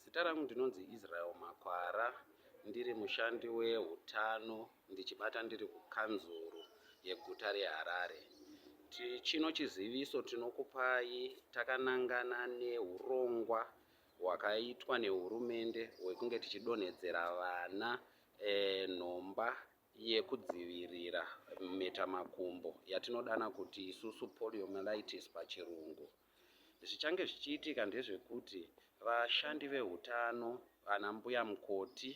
Zita rangu ndinonzi Israel Makwara ndiri mushandi wehutano ndichibata ndiri kukanzuru yeguta reHarare. Chino chiziviso tinokupai takanangana neurongwa hwakaitwa nehurumende hwekunge tichidonhedzera vana e, nhomba yekudzivirira mhetamakumbo yatinodana kuti isusu poliomyelitis pachirungu. Zvichange zvichiitika ndezvekuti vashandi vehutano, vana mbuya mukoti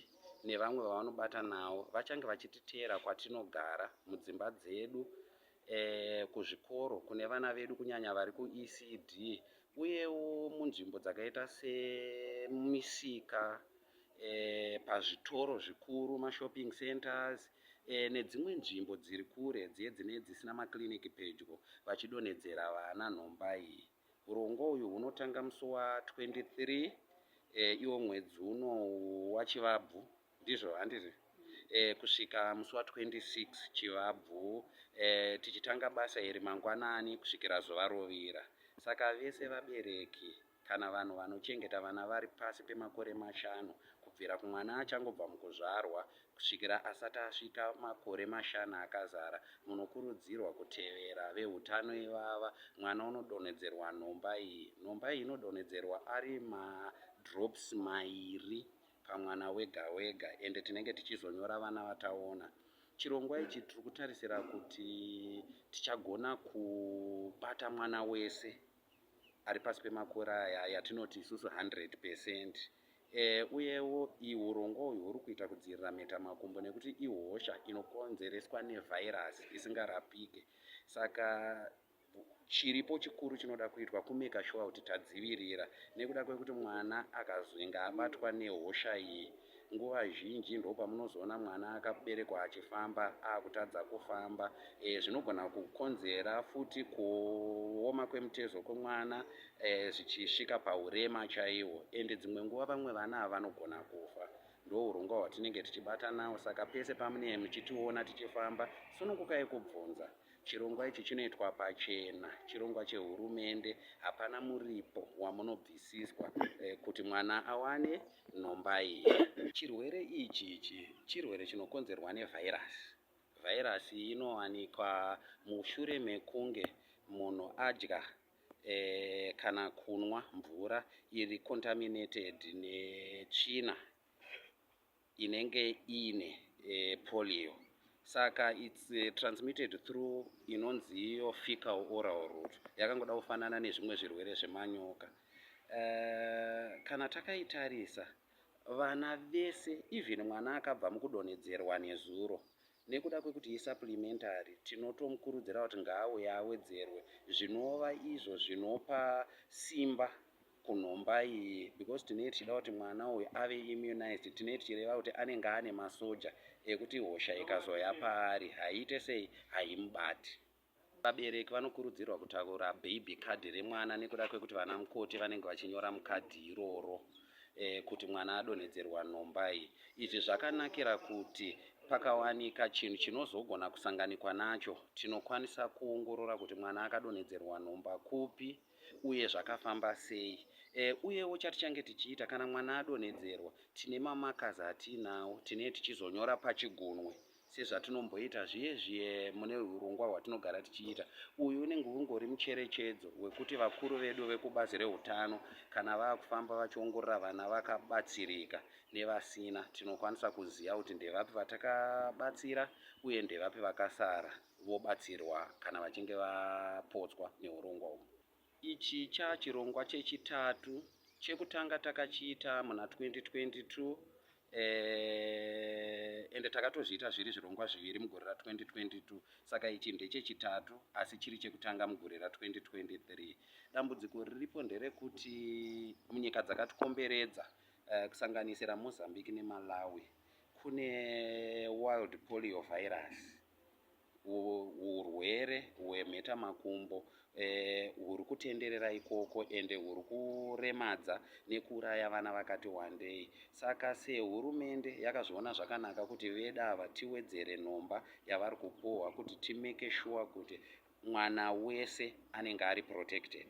nevamwe vavanobata nawo vachange vachititeera kwatinogara mudzimba dzedu eh, kuzvikoro kune vana vedu kunyanya vari kuECD uyewo munzvimbo dzakaita semisika e, pazvitoro zvikuru mashopping centers e, nedzimwe nzvimbo dziri kure dziye dzine dzisina makliniki pedyo vachidonhedzera vana nhomba iyi urongwa uyu hunotanga musi wa 23 e, iwo mwedzi uno wachivabvu ndizvo handizvi e, kusvika musi wa 26 chivabvu e, tichitanga basa iri mangwanani kusvikira zuva rovira saka vese vabereki Kana vanhu vanochengeta vana vari pasi pemakore mashanu kubvira kumwana achangobva mukuzvarwa kusvikira asati asvika makore mashanu akazara, munokurudzirwa kutevera vehutano ivava. Mwana unodonhedzerwa nhomba iyi. Nhomba iyi inodonhedzerwa ari madrops mairi pamwana wega wega ende tinenge tichizonyora vana vataona chirongwa ichi tiri kutarisira kuti tichagona kubata mwana wese ari pasi pemakore aya yatinoti isusu 100 percent e, uyewo ihurongwa uyu huri kuita kudzivirira mhetamakumbo nekuti ihosha inokonzereswa nevhairasi isingarapike saka chiripo chikuru chinoda kuitwa kumeka shuwa kuti tadzivirira nekuda kwekuti mwana akazwinga abatwa nehosha iyi Nguva zhinji ndopamunozoona mwana akaberekwa achifamba akutadza kufamba. E, zvinogona kukonzera futi kuoma kwemutezo kwemwana e, zvichisvika paurema chaiwo ende dzimwe nguva vamwe vana ava vanogona kufa ndourongwa hwatinenge tichibata nawo saka pese pamunee muchitiona tichifamba sunungukai kubvunza chirongwa ichi chinoitwa pachena chirongwa chehurumende hapana muripo wamunobvisiswa e, kuti mwana awane Nhombai. Chirwere ichi ichi chirwere chinokonzerwa nevhairasi. Vhairasi inowanikwa mushure mekunge munhu adya eh, kana kunwa mvura iri contaminated netsvina inenge iine eh, polio saka its uh, transmitted through inonzi iyo fecal oral root yakangoda kufanana nezvimwe zvirwere zvemanyoka Eh, kana takaitarisa vana vese even mwana akabva mukudonhedzerwa nezuro nekuda kwekuti isupplementary tinotomukurudzira kuti ngaauye awedzerwe zvinova izvo zvinopa simba kunhomba iyi because tinee tichida kuti mwana uyu ave immunized tinee tichireva kuti anenge ane masoja ekuti hosha ikazoya paari haiite sei haimubati Vabereki vanokurudzirwa kutakura baby card remwana nekuda kwekuti vana mukoti vanenge vachinyora mukadhi iroro e, kuti mwana adonhedzerwa nhomba iyi. Izvi zvakanakira kuti pakawanika chinhu chinozogona kusanganikwa nacho tinokwanisa kuongorora kuti mwana akadonhedzerwa nhomba kupi uye zvakafamba sei. E, uyewo chatichange tichiita kana mwana adonhedzerwa tine mamakazi atiinawo tinee tichizonyora pachigunwe sezvatinomboita zviye zviye mune urongwa hwatinogara tichiita uyu unenge ungori mucherechedzo wekuti vakuru vedu vekubazi reutano kana vakufamba vachiongorora vana vakabatsirika nevasina tinokwanisa kuziva kuti ndevapi vatakabatsira uye ndevapi vakasara vobatsirwa kana vachinge vapotswa neurongwa uhu Ichi chaa chirongwa chechitatu, chekutanga takachiita muna 2022 eh, ende takatozviita zviri zvirongwa zviviri mugore ra 2022 saka ichi ndechechitatu asi chiri chekutanga mugore ra 2023. Dambudziko riripo nderekuti munyika dzakatikomberedza eh, kusanganisira Mozambique neMalawi kune wild polio virus urwere hwemheta makumbo eh, huri e, kutenderera ikoko ende huri kuremadza nekuuraya vana vakati wandei saka sehurumende yakazviona zvakanaka kuti veda ava tiwedzere nhomba yavari kupuhwa kuti timeke shuwa kuti mwana wese anenge ari protected